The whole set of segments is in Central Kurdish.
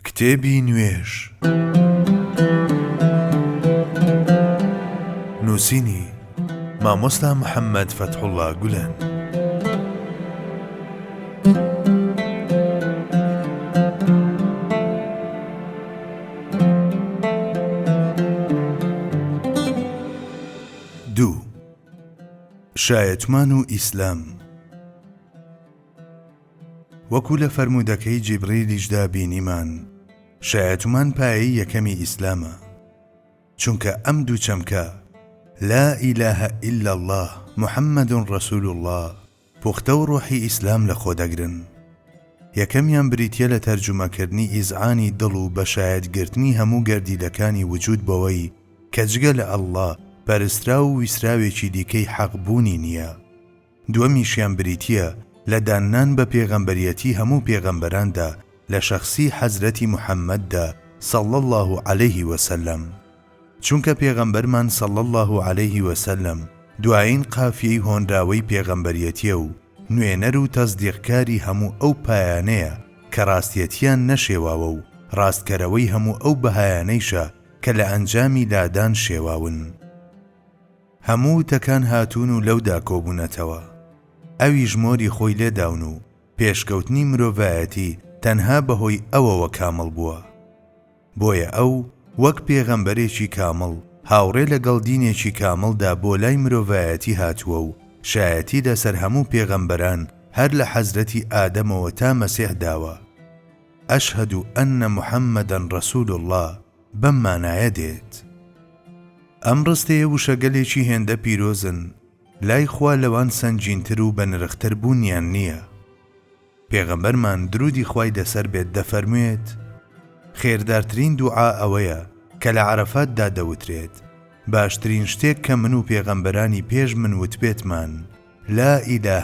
کتێبی نوێژ، نووسینی، مامۆستا محەممەد فەتحوڵڵا گولەن. دوو. شایەتمان و ئیسلام. وەکو لە فەرموودەکەی جیبریلیشدا بینیمان، شایەتومان پایەی یەکەمی ئیسلامە، چونکە ئەم دوو چەمکە، لا الە الا اللە محمد رسول اللە، پوختە و ڕۆحی ئیسلام لەخۆدەگرن. یەکەمیان بریتیە لە تەرجومەکردنی ئیزعانی دڵ و بەشایەت گرتنی هەموو گەردیلەکانی وجود بەوەی کە جگە لە اللە پەرستراو و ویسراوێکی دیکەی حەق بوونی نیە، دووەمیشیان بریتیە لە داننان بە پێغەمبەریەتی هەموو پێغەمبەراندا لە شەخسی حەزرەتی محمددا صلی اللە علیە وسلم چونکە پێغەمبەرمان صلی اللە علیە وسلم دوایین قافیەی هۆنراوەی پێغەمبەریەتیە و نوێنەر و تەسدیقکاری هەموو ئەو پایانەیە کە ڕاستیەتیان نەشێواوە و ڕاستکەرەوەی هەموو ئەو بەهایانەیشە کە لە ئەنجامی لادان شێواون. هەموو وتەکان هاتوون و لەودا کۆبوونەتەوە. ئەویش مۆری خۆی لێ داون و پێشکەوتنی مرۆڤایەتی تەنها بەهۆی ئەوەوە کامڵ بووە. بۆیە ئەو وەک پێغەمبەرێکی کامڵ هاوڕێ لەگەڵ دینێکی کامڵدا بۆ لای مرۆڤایەتی هاتووە و شایەتی لەسەر هەموو پێغەمبەران هەر لە حەزرەتی ئادەمەوە تا مەسیح داوە، اشهد ان محمدا رسول اللە. بەم مانایە دێت. ئەم ڕستەیە وشەگەلێکی هێندە پیرۆزن لای خوا لەوان سەنگینتر و بەنرختر بوونیان نییە. پێغەمبەرمان دروودی خوای لەسەر بێت دەفەرموێت، خێردارترین دوعا ئەوەیە کە لە عەرەفاتدا دەوترێت، باشترین شتێک کە من و پێغەمبەرانی پێش من وتبێتمان، لا الە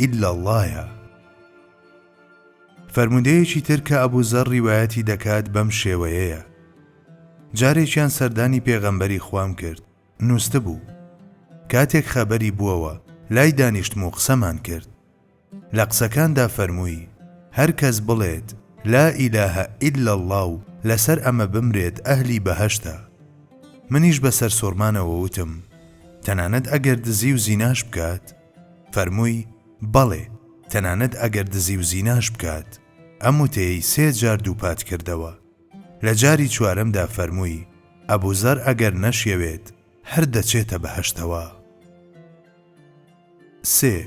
الا اللە، یە. فەرموودەیەکی تر کە ئەبو زەڕ ڕیوایەتی دەکات بەم شێوەیەیە، جارێکیان سەردانی پێغەمبەری خوام کرد، نووستبوو، کاتێک خەبەری بووەوە، لای دانیشتم و قسەمان کرد، لە قسەکاندا فەرمووی، هەر کەس بڵێت، لا ئیلاهە ئیلا اللە و لەسەر ئەمە بمرێت ئەهلی بەهەشتە. منیش بە سەرسوڕمانەوە وتم، تەنانەت ئەگەر دزی و زیناش بکات؟ فەرمووی، بەڵێ، تەنانەت ئەگەر دزی و زیناش بکات. ئەم وتەیەی سێ جار دووپات کردەوە. لە جاری چوارەمدا فەرمووی، ئەبووزەر ئەگەر نەشیەوێت، هەر دەچێتە بەهەشتەوە. سێ،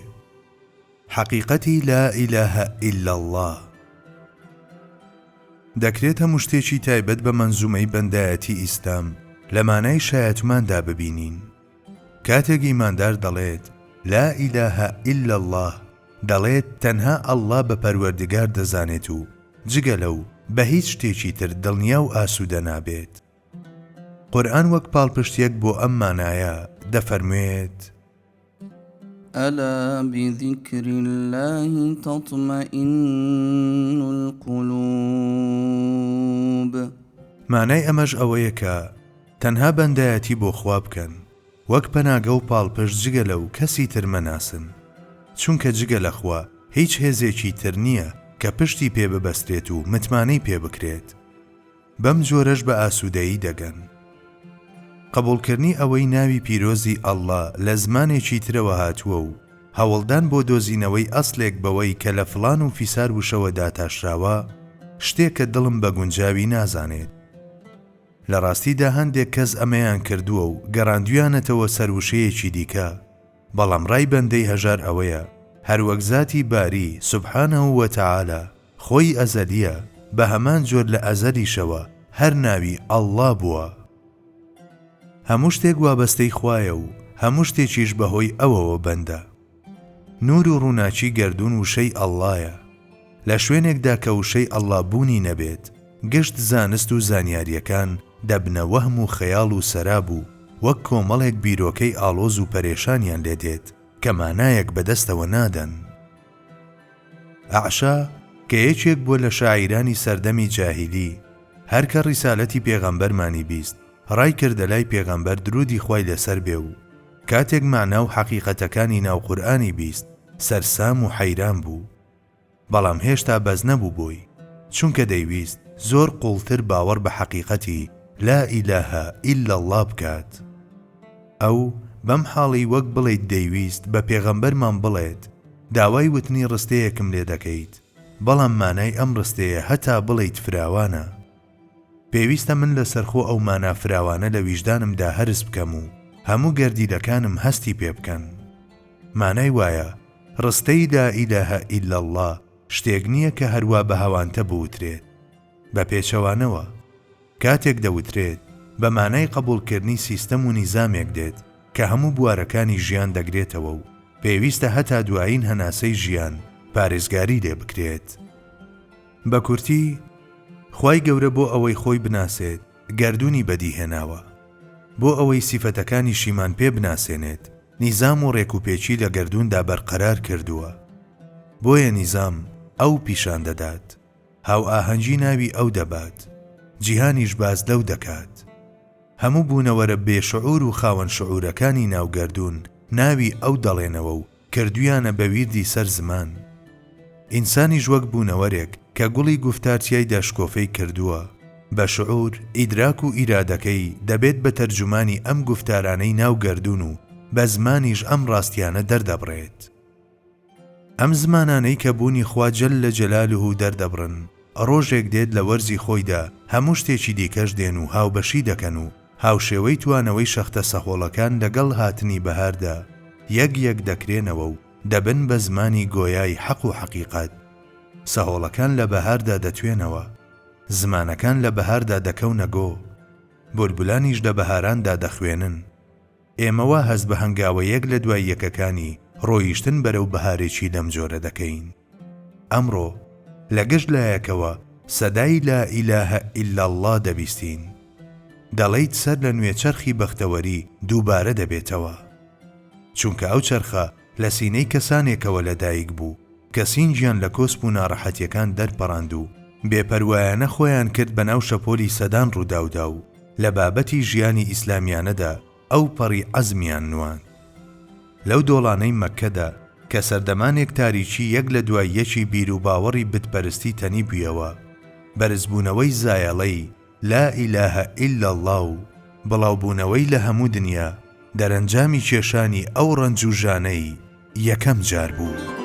حەقیقەتی لا ئیلاهە ئیلا اللە. دەکرێت هەموو شتێکی تایبەت بە مەنزومەی بەندایەتی ئیسلام لە مانای شایەتماندا ببینین. کاتێک ئیماندار دەڵێت، لا الە هە الا اللە، دەڵێت تەنها اللە بە پەروەردگار دەزانێت و جگە لەو بە هیچ شتێکی تر دڵنیا و ئاسوودە نابێت. قورئان وەک پاڵپشتیەک بۆ ئەم مانایە دەفەرموێت. الا بذکر اللە تطمئن القلوب. مانای ئەمەش ئەوەیە کە، تەنها بەندایەتی بۆ خوا بکەن وەک پەناگە و پاڵپشت جگە لەو کەسی تر مەناسن چونکە جگە لە خوا هیچ هێزێکی تر نیە کە پشتی پێ ببەسترێت و متمانەی پێ بکرێت بەم جۆرەش بە ئاسودەیی دەگەن. قبوڵکرنی ئەوەی ناوی پیرۆزی اللە لە زمانێکی ترەوە هاتووە و هەوڵدان بۆ دۆزینەوەی ئەسلێک بەوەی کە لە فڵان و فیسار وشەوە داتاشراوە شتێکە دڵم بە گونجاوی نازانێت. لە ڕاستیدا هەندێک کەس ئەمەیان کردووە و گەڕاندویانەتەوە سەر وشەیەکی دیکە، بەڵام ڕای بەندەی هەژار ئەوەیە، هەروەک زاتی باری، سبحانە وتعالی، خۆی ئەزەلییە، بە هەمان جۆر لە ئەزەلیشەوە هەر ناوی، اللە، بووە. هەموو شتێک وابەستەی خوایە و هەموو شتێکیش بەهۆی ئەوەوە بەندە. نوور و ڕووناکی گەردوون وشەی اللەیە. لە شوێنێکدا کە وشەی اللە بوونی نەبێت، گشت زانست و زانیارییەکان دەبنە وەهم و خەیاڵ و سەراب و وەک کۆمەڵێک بیرۆکەی ئاڵۆز و پەرێشانیان لێ دێت کە مانایەک بە دەستەوە نادەن. ئەعشا کە یەکێک بووە لە شاعیرانی سەردەمی جاهیلی، هەر کە ڕیسالەتی پێغەمبەرمانی بیست، ڕایکردە لای پێغەمبەر درودی خوای لەسەر بێ و کاتێک مەعنا و حەقیقەتەکانی ناو قورئانی بیست سەرسام و حەیران بوو بەڵام هێشتا بەس نەبوو بۆی چونکە دەیویست زۆر قوڵتر باوەڕ بە حەقیقەتی لا الە الا اللە بکات ئەو بەم حاڵی وەک بڵێیت دەیویست بە پێغەمبەرمان بڵێت داوای وتنی ڕستەیەکم لێ دەکەیت بەڵام مانای ئەم ڕستەیە هەتا بڵێیت فراوانە. پێویستە من لەسەرخۆ ئەو مانا فراوانە لە ویژدانمدا هەرس بکەم و هەموو گەردیلەکانم هەستی پێ بکەن. مانای وایە، ڕستەی لا الە هە الا اللە شتێک نییە کە هەروا بە هەوانتە بوترێت. بە پێچەوانەوە، کاتێک دەوترێت، بە مانای قەبووڵکردنی سیستەم و نیزامێک دێت کە هەموو بوارەکانی ژیان دەگرێتەوە و پێویستە هەتا دوایین هەناسەی ژیان پارێزگاری لێ بکرێت. بە کورتی، خوای گەورە بۆ ئەوەی خۆی بناسێت گەردوونی بەدی هێناوە، بۆ ئەوەی سیفەتەکانیشیمان پێ بناسێنێت نیزام و ڕێکوپێکی لە گەردووندا بەرقەرار کردووە، بۆیە نیزام ئەو پیشان دەدات، هاوئاهەنگی ناوی ئەو دەبات، جیهانیش باس لەو دەکات. هەموو بوونەوەرە بێ شعور و خاوەن شعورەکانی ناو گەردوون ناوی ئەو دەڵێنەوە و کردویانە بە ویردی سەر زمان. ئینسانیش وەک بوونەوەرێک کە گوڵی گوفتار تیایدا شکۆفەی کردووە، بە شعور، ئیدراک و ئیرادەکەی دەبێت بە تەرجومانی ئەم گوفتارانەی ناو گەردوون و بە زمانیش ئەم ڕاستیانە دەردەبڕێت. ئەم زمانانەی کە بوونی خوا جل جلاله دەردەبڕن، ڕۆژێک دێت لە وەرزی خۆیدا هەموو شتێکی دیکەش دێن و هاوبەشی دەکەن و هاوشێوەی توانەوەی شەختە سەهۆڵەکان لەگەڵ هاتنی بەهاردا یەک یەک دەکرێنەوە و دەبن بە زمانی گۆیای حەق و حەقیقەت. سەهۆڵەکان لە بەهاردا دەتوێنەوە. زمانەکان لە بەهاردا دەکەونە گۆ. بولبولانیش لە بەهاراندا دەخوێنن. ئێمە وا هەست بە هەنگاوە یەک لە دوای یەکەکانی ڕۆیشتن بەرەو بەهارێکی لەم جۆرە دەکەین. ئەمڕۆ لە گشت لایەکەوە سەدای لا ئیلاهە ئیلا اللە دەبیستین. دەڵێیت سەر لە نوێ چەرخی بەختەوەری دووبارە دەبێتەوە. چونکە ئەو چەرخە لە سینەی کەسانێکەوە لە دایک بوو کە سینگیان لە کۆسپ و ناڕەحەتیەکان دەرپەڕاند و بێ پەروایانە خۆیان کرد بە ناو شەپۆلی سەدان ڕووداودا و لە بابەتی ژیانی ئیسلامیانەدا ئەوپەڕی عەزمیان نواند. لەو دۆڵانەی مەککەدا کە سەردەمانێک تاریکی یەک لە دوای یەکی بیروباوەڕی بتپەرستی تەنیبویەوە، بەرزبوونەوەی زایەڵەی، لا الە الا اللە، و بڵاوبوونەوەی لە هەموو دنیا، دەرەنجامی کێشانی ئەو ڕەنج و ژانەی یەکەم جار بوو.